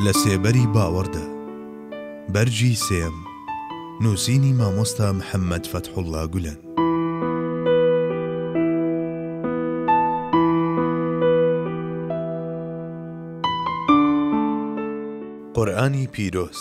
لە سێبەری باوەڕدا، بەرگی سێیەم، نووسینی مامۆستا محەممەد فەتحوڵڵا گولەن. قورئانی پیرۆز.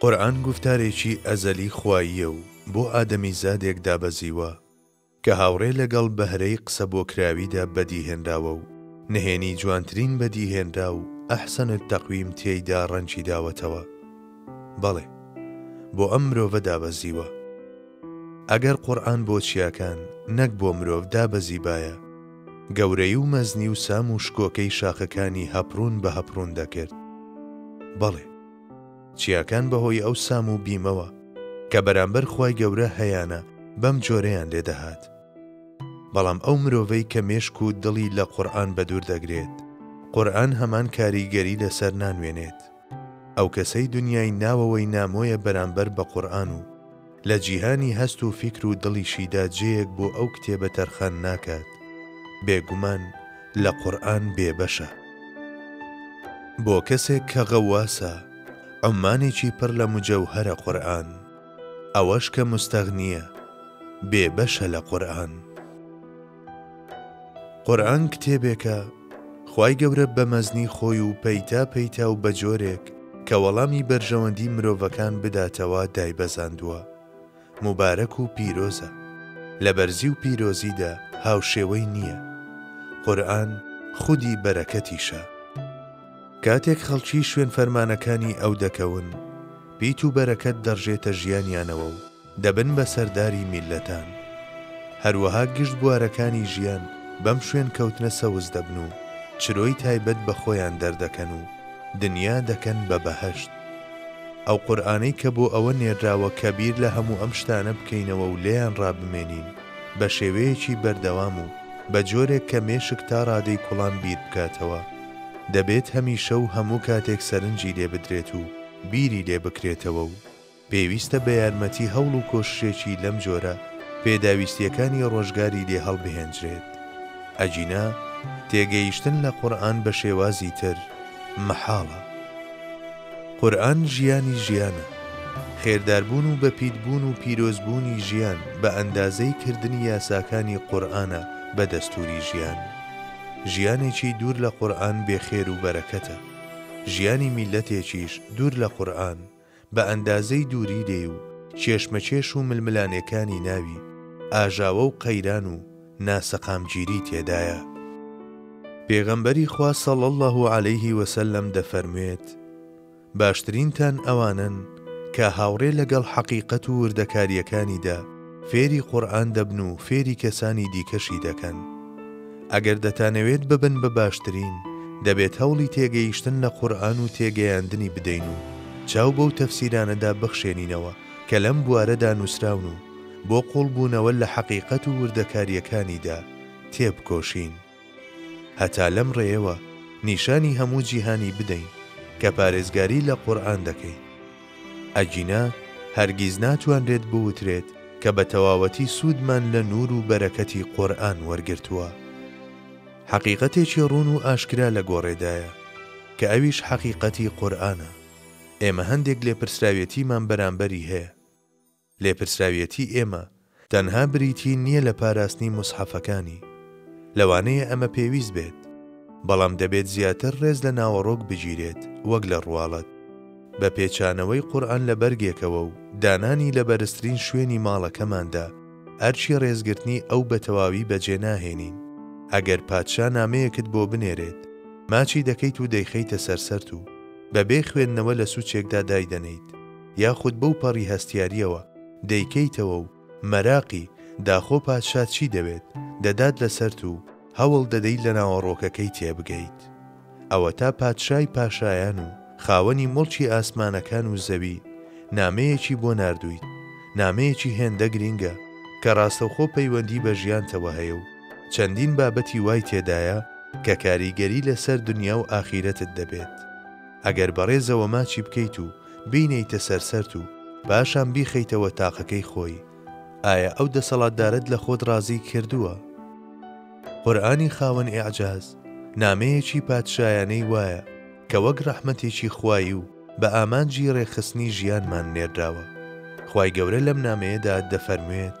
قورئان گوفتارێکی ئەزەلی خواییە و بۆ ئادەمیزادێک دابەزیوە، کە هاوڕێ لەگەڵ بەهرەی قسەبۆکراویدا بەدیهێنراوە و نهێنی جوانترین بەدیهێنرا و احسن التقویم تێیدا ڕەنگی داوەتەوە. بەڵێ، بۆ ئەم مرۆڤە دابەزیوە. ئەگەر قورئان بۆ چیاکان، نەک بۆ مرۆڤ دابەزیبایە، گەورەیی و مەزنی و سام و شکۆکەی شاخەکانی هەپڕون بە هەپڕون دەکرد. بەڵێ. چیاکان بەهۆی ئەو سام و بیمەوە کە بەرامبەر خوای گەورە هەیانە بەم جۆرەیان لێ دەهات. بەڵام ئەو مرۆڤەی کە مێشک و دڵی لە قورئان بەدوور دەگرێت، قورئان هەمان کاریگەری لەسەر نانوێنێت. ئەو کەسەی دونیای ناوەوەی نامۆیە بەرامبەر بە قورئان و. لە جیهانی هەست و فیکر و دڵیشیدا جێیەک بۆ ئەو کتێبە تەرخان ناکات، بێگومان لە قورئان بێبەشە. بۆ کەسێک کە غەواسە، عوممانێکی پڕ لە مجەوهەرە قورئان. ئەوەش کە موستەغنییە، بێبەشە لە قورئان. قورئان کتێبێکە خوای گەورە بە مەزنی خۆی و پەیتا پەیتا و بە جۆرێک کە وەڵامی بەرژەوەندی مرۆڤەکان بداتەوە دایبەزاندووە موبارەک و پیرۆزە لە بەرزی و پیرۆزیدا هاوشێوەی نییە قورئان خودی بەرەکەتیشە کاتێک خەڵکی شوێن فەرمانەکانی ئەو دەکەون پیت و بەرەکەت دەڕژێتە ژیانیانەوە و دەبن بە سەرداری میللەتان. هەروەها گشت بوارەکانی ژیان بەم شوێنکەوتنە سەوز دەبن و چرۆی تایبەت بە خۆیان دەردەکەن و دنیا دەکەن بە بەهەشت. ئەو قورئانەی کە بۆ ئەوە نێرراوە کە بیر لە هەموو ئەم شتانە بکەینەوە و لێیان ڕابمێنین بە شێوەیەکی بەردەوام و بە جۆرێک کە مێشک تا ڕادەی کوڵان بیر بکاتەوە دەبێت هەمیشە و هەموو کاتێک سەرنجی لێ بدرێت و بیری لێ بکرێتەوە و پێویستە بە یارمەتی هەوڵ و کۆششێکی لەم جۆرە پێداویستییەکانی ڕۆژگاری لێ هەڵبهێنجرێت، ئەگینا تێگەیشتن لە قورئان بە شێوازی تر مەحاڵە. قورئان ژیانی ژیانە. خێرداربوون و بەپیتبوون و پیرۆزبوونی ژیان بە ئەندازەی کردنی یاساکانی قورئانە بە دەستووری ژیان. ژیانێکی دوور لە قورئان بێخێر و بەرەکەتە. ژیانی میللەتێکیش دوور لە قورئان، بە ئەندازەی دووری دێ و کێشمەکێش و ململانێکانی ناوی، ئاژاوە و قەیران و ناسەقامگیری تێدایە. پێغەمبەری خوا صلی اللە علیه و سلم دەفەرموێت، باشترینتان ئەوانەن کە هاوڕێ لەگەڵ حەقیقەت و وردەکارییەکانیدا، فێری قورئان دەبن و فێری کەسانی دیکەشی دەکەن. ئەگەر دەتانەوێت ببن بە باشترین، دەبێت هەوڵی تێگەیشتن لە قورئان و تێگەیاندنی بدەین و چاو بەو تەفسیرانەدا بخشێنینەوە کە لەم بوارەدا نووسراون و بۆ قووڵبوونەوە لە حەقیقەت و وردەکارییەکانیدا تێبکۆشین. هەتا لەم ڕێیەوە نیشانی هەموو جیهانی بدەین کە پارێزگاری لە قورئان دەکەین. ئەگینا هەرگیز ناتوانرێت بوترێت کە بە تەواوەتی سوودمان لە نوور و بەرەکەتی قورئان وەرگرتووە. حەقیقەتێکی ڕوون و ئاشکرا لە گۆڕێدایە، کە ئەویش حەقیقەتی قورئانە. ئێمە هەندێک لێپرسراوێتیمان بەرامبەری هەیە. لێپرسراویەتی ئێمە تەنها بریتی نیە لە پاراستنی موسحەفەکانی، لەوانەیە ئەمە پێویست بێت، بەڵام دەبێت زیاتر ڕێز لە ناوەڕۆک بگیرێت وەک لە ڕواڵەت، بە پێچانەوەی قورئان لە بەرگێکەوە و دانانی لە بەرزترین شوێنی ماڵەکەماندا، ئەرکی ڕێزگرتنی ئەو بە تەواوی بەجێ ناهێنین. ئەگەر پادشا نامەیەکت بۆ بنێرێت، ماچی دەکەیت و دەیخەیتە سەر سەرت و بەبێ خوێندنەوە لە سوچێکدا دایدەنێیت. یاخود بەو پەڕی هەستیارییەوە دەیکەیتەوە و مەراقی، داخۆ پادشا چی دەوێت، دەدات لەسەرت و هەوڵ دەدەیت لە ناوەڕۆکەکەی تێبگەیت. ئەوەتا پادشای پاشایان و خاوەنی موڵکی ئاسمانەکان و زەوی نامەیەکی بۆ ناردوویت، نامەیەکی هێندە گرینگە کە ڕاستەوخۆ پەیوەندی بە ژیانتەوە هەیە و چەندین بابەتی وای تێدایە کە کاریگەری لەسەر دنیا و ئاخیرەتت دەبێت. ئەگەر بەڕێزەوە ماچی بکەیت و بینێیتە سەر سەرت و پاشان بیخەیتەوە تاقەکەی خۆی ئایا ئەو دەسەڵاتدارەت لە خۆت ڕازی کردووە؟ قورئانی خاوەن ئیعجاز نامەیەکی پادشایانەی وایە کە وەک ڕەحمەتێکی خوایی و بە ئامانجی ڕێکخستنی ژیانمان نێردراوە خوای گەورە لەم نامەیەدا دەفەرموێت،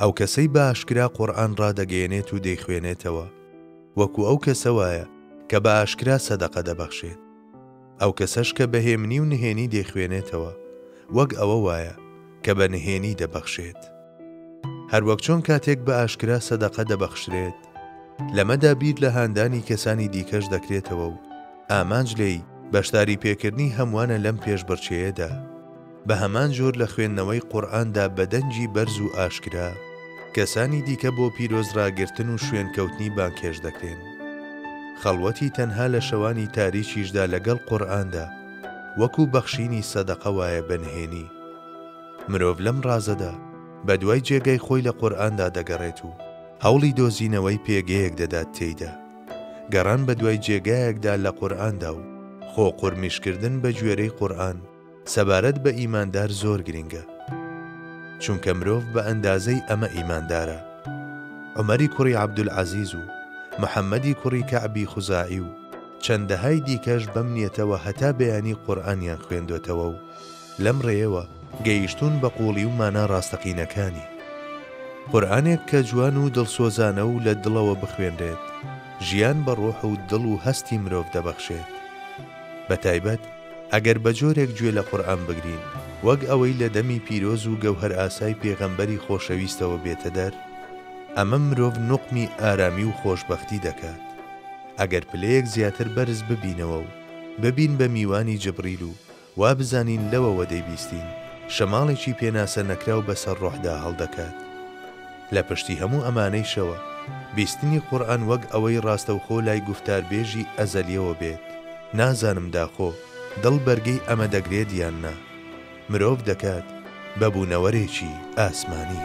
ئەو کەسەی بە ئاشکرا قورئان ڕادەگەیەنێت و دەیخوێنێتەوە، وەکو ئەو کەسە وایە کە بە ئاشکرا سەدەقە دەبەخشێت. ئەو کەسەش کە بە هێمنی و نهێنی دەیخوێنێتەوە، وەک ئەوە وایە کە بە نهێنی دەبەخشێت. هەروەک چۆن کاتێک بە ئاشکرا سەدەقە دەبەخشرێت، لەمەدا بیر لە هاندانی کەسانی دیکەش دەکرێتەوە و ئامانج لێی بەشداریپێکردنی هەمووانە لەم پێشبڕکێیەدا. بە هەمان جۆر لە خوێندنەوەی قورئاندا بە دەنگی بەرز و ئاشکرا، کەسانی دیکە بۆ پیرۆزڕاگرتن و شوێنکەوتنی بانگهێشت دەکرێن. خەڵوەتی تەنها لە شەوانی تاریکیشدا لەگەڵ قورئاندا، وەکو بەخشینی سەدەقە وایە بە نهێنی. مرۆڤ لەم ڕازەدا، بەدوای جێگای خۆی لە قورئاندا دەگەڕێت و هەوڵی دۆزینەوەی پێگەیەک دەدات تێیدا. گەڕان بەدوای جێگایەکدا لە قورئاندا و خۆ قورمیشکردن بەگوێرەی قورئان، سەبارەت بە ئیماندار زۆر گرینگە چونکە مرۆڤ بە ئەندازەی ئەمە ئیماندارە عومەری کوڕی عەبدولعەزیز و محەمەدی کوڕی کەعبی خوزاعی و چەندەهای دیکەش بەم نیەتەوە هەتا بەیانی قورئانیان خوێندۆتەوە و لەم ڕێیەوە گەیشتوون بە قووڵی و مانا ڕاستەقینەکانی. قورئانێک کە جوان و دڵسۆزانە و لە دڵەوە بخوێنرێت ژیان بە ڕۆح و دڵ و هەستی مرۆڤ دەبەخشێت بە تایبەت ئەگەر بە جۆرێک گوێ لە قورئان بگرین وەک ئەوەی لە دەمی پیرۆز و گەوهەرئاسای پێغەمبەری خۆشەویستەوە بێتە دەر، ئەمە مرۆڤ نوقمی ئارامی و خۆشبەختی دەکات. ئەگەر پلەیەک زیاتر بەرز ببینەوە و ببین بە میوانی جبریل و وا بزانین لەوەوە دەیبیستین شەماڵێکی پێناسە نەکراو بەسەر ڕۆحدا هەڵدەکات، لە پشتی هەموو ئەمانەیشەوە، بیستنی قورئان وەک ئەوەی ڕاستەوخۆ لای گوفتاربێژی ئەزەلیەوە بێت، نازانم داخۆ دڵ بەرگەی ئەمە دەگرێت یان نا، مرۆڤ دەکات بە بوونەوەرێکی ئاسمانی.